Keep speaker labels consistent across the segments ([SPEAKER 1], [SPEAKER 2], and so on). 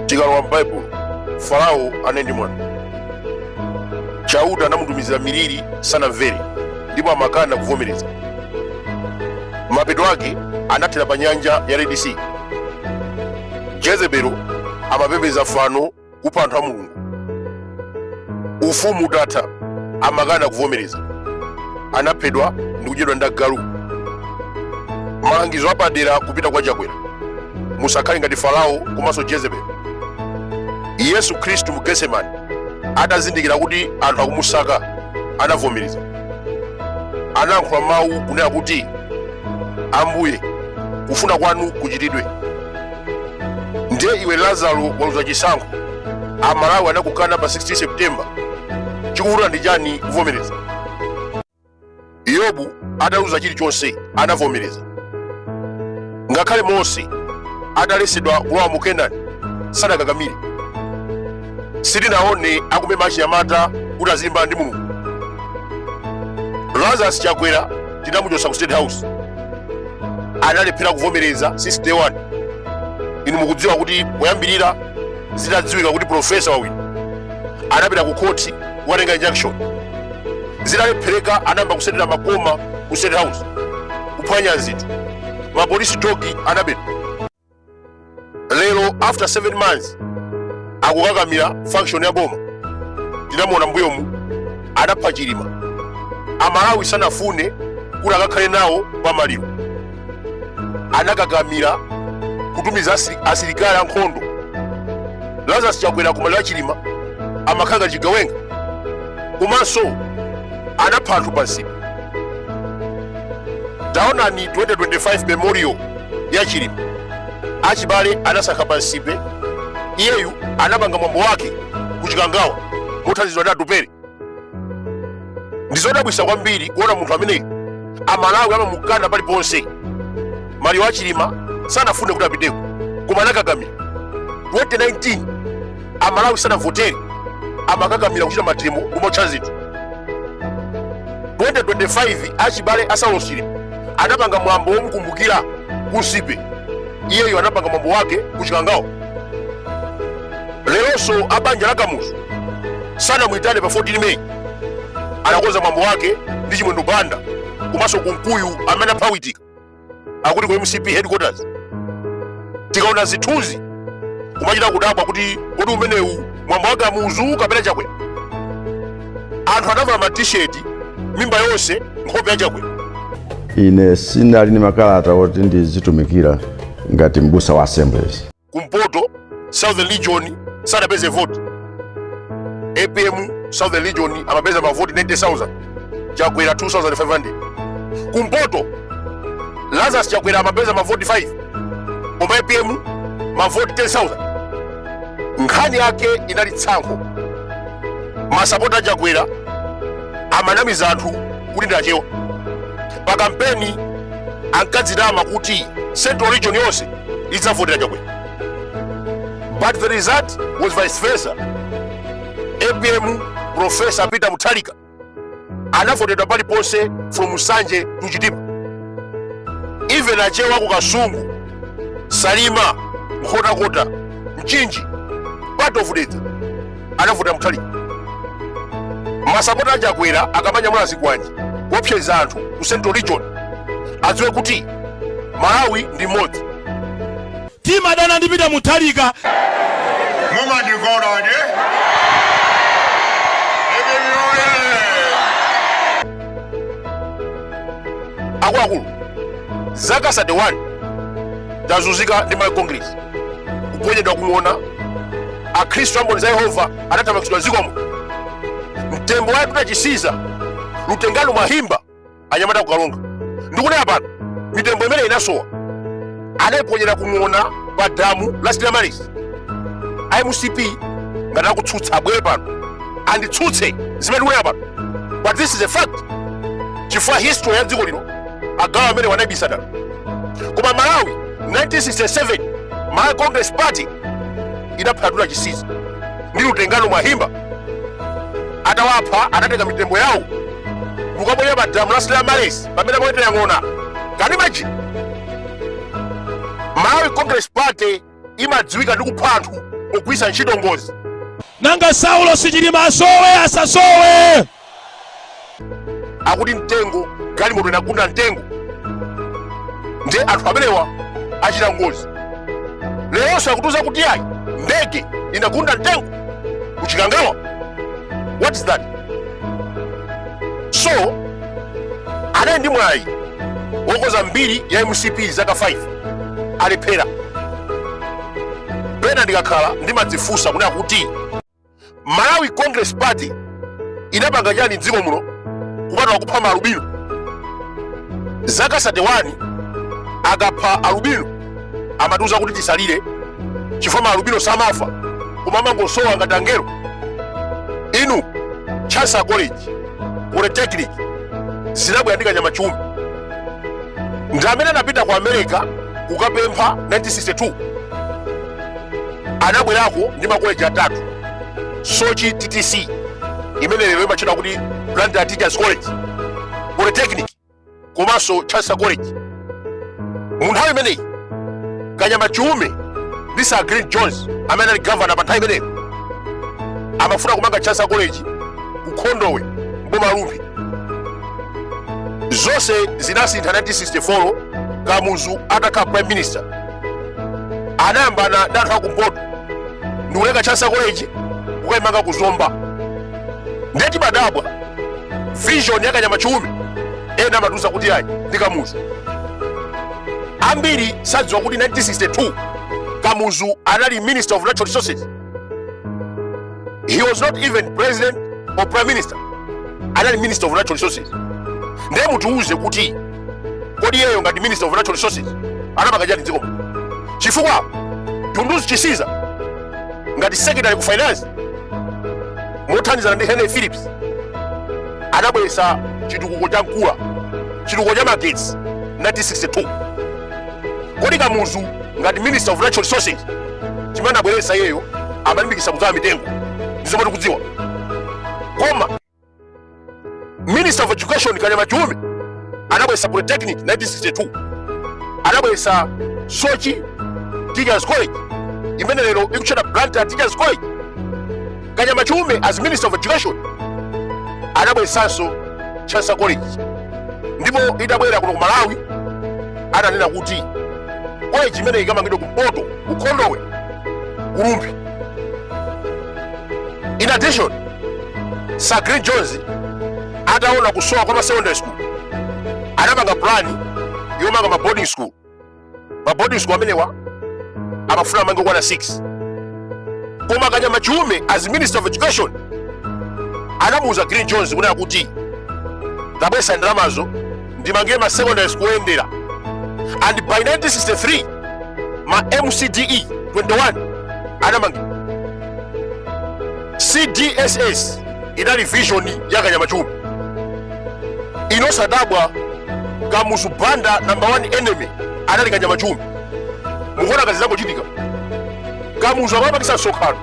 [SPEAKER 1] tikalowa m'baibulo farao anali ndi mwano chauta anamutumizira miliri sanamvere ndipo amakana kuvomereza mapeto ake anathera pa nyanja ya red sea jezebelo amapembedza fano kupha anthu a mulungu ufumu utatha amakana kuvomereza anaphedwa ndi kudyedwa ndi agalu malangizo apadera kupita kwa chakwera musakhale ngati farao komanso jezebeli yesu khristu mu getsemani atazindikira kuti anthu akumusaka anavomereza anayankhula mawu kunena kuti ambuye kufuna kwanu kuchitidwe ndiye iwe lazaro waluza chisankho amalawi anakukana pa 16 september chikuvuta ndi chani kuvomereza yobu ataluza chilichonse anavomereza ngakhale mose atalesedwa kulowa mu kenani sadakakamire sitinaone akumema achinyamata kuti azilimbana ndi mulungu lazarus chakwera tinamuchotsa ku state house analephera kuvomereza 61 inu mukudziwa kuti poyambirira zitadziwika kuti profesa wawina anapita ku khoti kukatenga injunction zitalephereka anayamba kusetera makoma ku state house kuphwanya zinthu mapolisi dogi anabedwa lero after 7 months akukakamira function ya boma tinamuona mbuyomu anapha chilima amalawi sanafune kuti akakhale nawo pa maliro anakakamira kutumiza asili- asilikali ankhondo lazarus chakwera ku maliro a chilima amakhala ngati chigawenga komanso anapha anthu pa nsipe taonani 2025 memorial ya chilima achibale anasankha pa nsipe iyeyu anapanga mwambo wake ku chikangawa mothandizidwa ndi atupele ndizodabwisa kwambiri kuona munthu ameneyu amalawi amamukana paliponse maliro a chilima sanafune kuti apiteko koma anakakamira 2019 amalawi sanavotere amakakamira kuchita mademo kumaotcha zinthu 2025 achibale a saulosi anapanga mwambo womukumbukira ku nsipe iyeyo anapanga mwambo wake kuchikangawo leronso abanja la kamuzu sanamwitane pa 14 may anakonza mwambo wake ndi chimwendo banda komanso kunkuyu amene apha witika akuti ku mcp headquarters tikaona zithunzi kumachita kudabwa kuti kodi umenewu mwambo wa kamuzu kapena chakwera anthu anavala ma t-shirt mimba yonse nkhope ya chakwera
[SPEAKER 2] ine sinali ndi makalata oti ndizitumikira ngati mbusa wa assemblies kumpoto
[SPEAKER 1] southern region sadapeze vote apm southern region amapeza mavoti 90000 chakwera 2500 kumpoto lazarus chakwera amapeza mavoti 5 koma apm mavoti 10000 nkhani yake inali tsankho masapota a chakwera amanamiza anthu kuti ndi achewa pa kampeni ankadzitama kuti central region yonse idzavotera chakwera but the result was vice versa apm professor peter mutharika anavotedwa paliponse from nsanje to chitipa even achewa ku kasungu salima nkhotakota mchinji part of dedza anavotera muthalika masapota a chakwera akamanyamula zikwanje kuopseza anthu ku central region adziwe kuti malawi ndi mmodzi
[SPEAKER 3] timadana ndi pita muthalika
[SPEAKER 4] mumandikonda
[SPEAKER 1] ine akuluakulu zaka 31 tazunzika ndi malawi congress kuponyedwa kung'ona akhristu a mboni za yehova anathamangitsidwa dziko muno mtembo wa yatuta chisiza lutengano mwahimba anyamata a ku karonga ndikunena pano mitembo imene inasowa adaiponyera kung'ona pa damu la stella maris mcp ngati akutsutsa abwere pano anditsutse zimene ndikunena pano but this is a fact chifukwa history ya dziko lino agalu amenewa anaibisa dala koma malawi 1967 malawi congress party idapha yatuta chisiza ndi lutengano mwahimba atawapha adatenga mitembo yawo nkukaponya pa damu la stella maris pamene amawetera ng'ona can you imagine malawi congress party imadziwika ndi kupha anthu pogwiritsa ntchito ngozi nanga
[SPEAKER 3] saulosi chilima asowe asasowe
[SPEAKER 1] akuti mtengo galimoto inagunda mtengo nde anthu amenewa achita ngozi leronso akutiuza kuti ayi ndege inagunda mtengo kuchikangawa what is that so anali ndi mwayi wokonza mbiri ya mcp zaka 5 alephera pena ndikakhala ndimadzifunsa kuti akuti malawi congress party inapanga chani mdziko muno kupatula kupha maalubino zaka 31 akapha alubino amatiuza kuti tisalire chifukwa maalubino samafa koma amangosowa ngati angelo inu chancellor college polytechnic zinabwera ndi kanyama chiume ndi amene anapita ku america kukapempha 1962 anabwerako ndi makoleji atatu soche ttc imene lero imatchedwa kuti blantyre teachers college polytechnic komanso chancellor college mu nthawi imeneyi kanyama chiume ndi sir glyn jones amene anali gavana pa nthawi imeneyo amafuna kumanga chancellor college ku khondowe mboma la rumphi zonse zinasintha 1964 kamuzu atakhala prime minister anayamba kuda anthu akumpoto ndikuleka chancellor koleji kukaimanga ku zomba ndiye timadabwa vision yakanyama chiume ena amatiuza kuti ayi ndi kamuzu ambiri sadziwa kuti 1962 kamuzu anali minister of natural resources he was not even president or prime minister anali minister of natural resources ndiye mutiuze kuti kodi iyeyo ngati minister of natural resources anapanga chani mdziko muno chifukwa dunduzu chisiza ngati secretary ku finance mothandizana ndi henry phillips anabweretsa chitukuko cha nkula chitukuko cha magetsi 1962 kodi kamuzu ngati minister of natural resources chimene anabweretsa iyeyo amalimbikitsa kudzala mitengo ndi zomwe tikudziwa koma minister of education kanyama chiume anabweretsa polytechnic 1962 anabweretsa soche teachers college imene lero ikutchedwa blantyre teachers college kanyama chiume as minister of education anabweresanso chancellor college ndipo itabwera kuno ku malawi ananena kuti college imene ikamangidwe kumpoto ku khondowe ku rumphi in addition sir glyn jones ataona kusowa kwa ma secondary school anapanga plan yomanga ma boarding school ma boarding school amenewa amafuna amange okwana 6 koma kanyama chiume as minister of education anamuuza glyn jones kunena kuti tabwesa ndalamazo ndimangire ma secondary school oyendera and by 1963 ma mcc 21 anamangidwa cdss inali vision ya kanyama chiume inu osadabwa kamuzu banda number one enemy anali kanyama chiume mukuona ngati zangochitika kamuzu amapangisa msonkhano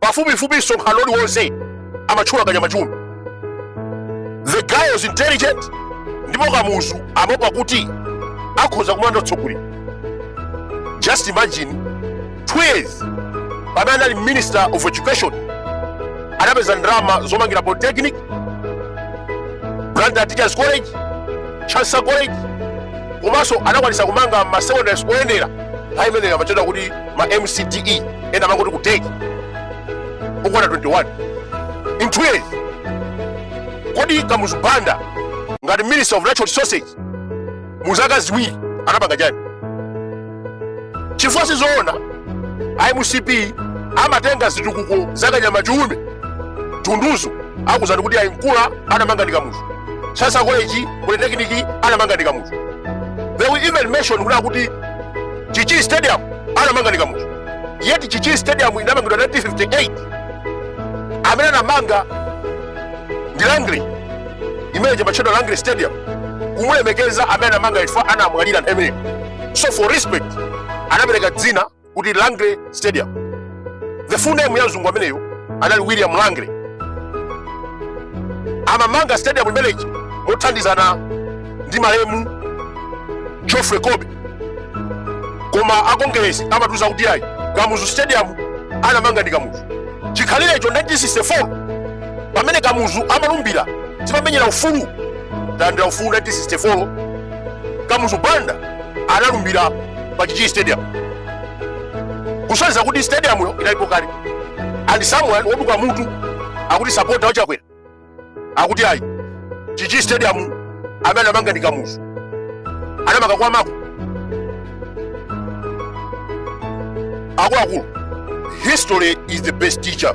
[SPEAKER 1] pafupifupi msonkhano uliwonse amatchula kanyama chiume the guy was intelligent ndipo kamuzu amaopa kuti akhoza kumulanda utsogoleri just imagine Two years pamene anali minister of education anapeza ndalama zomangira polytechnic Blantyre teachers college chancellor college komanso anakwanisa kumanga ma secondary school oyendera nthawi imeneyo amatchedwa kuti ma mcde ena amangoti kuteki okwana 21 in two years kodi kamuzu banda ngati minister of natural resources mu zaka ziwiri anapanga chani chifukwa sizoona izi mcp amatenga zitukuko zakanyama chiume dunduzu akuuzani kuti ayi nkula anamanga ndi kamuzu chancellor college polytechnic anamanga ndi kamuzu they will even mention kuti akuti chichiri stadium anamanga ndi kamuzu yet chichiri stadium inamangidwa 1958 amene anamanga ndi rangeley imene imatchedwa rangeley stadium kumulemekeza amene anamanga chifukwa anamwalira nthawi imeneyo so for respect anapereka dzina kuti rangeley stadium the full name ya mzungu ameneyo anali william rangeley amamanga stadium imeneyi mothandizana ndi malemu geoffrey colby koma akongeresi amatiuza kuti iyayi kamuzu stadium anamanga ndi kamuzu chikhalirecho 1964 pamene kamuzu amalumbira timamenyera ufulu talandira ufulu 1964 kamuzu banda analumbira pa chichiri stadium kusonyeza kuti stadiumyo inalipo kale and someone woduka mutu akuti sapota wa chakwera akuti ayi chichiri stadium amene anamanga ndi kamuzu anamanga kwa mako akuluakulu history is the best teacher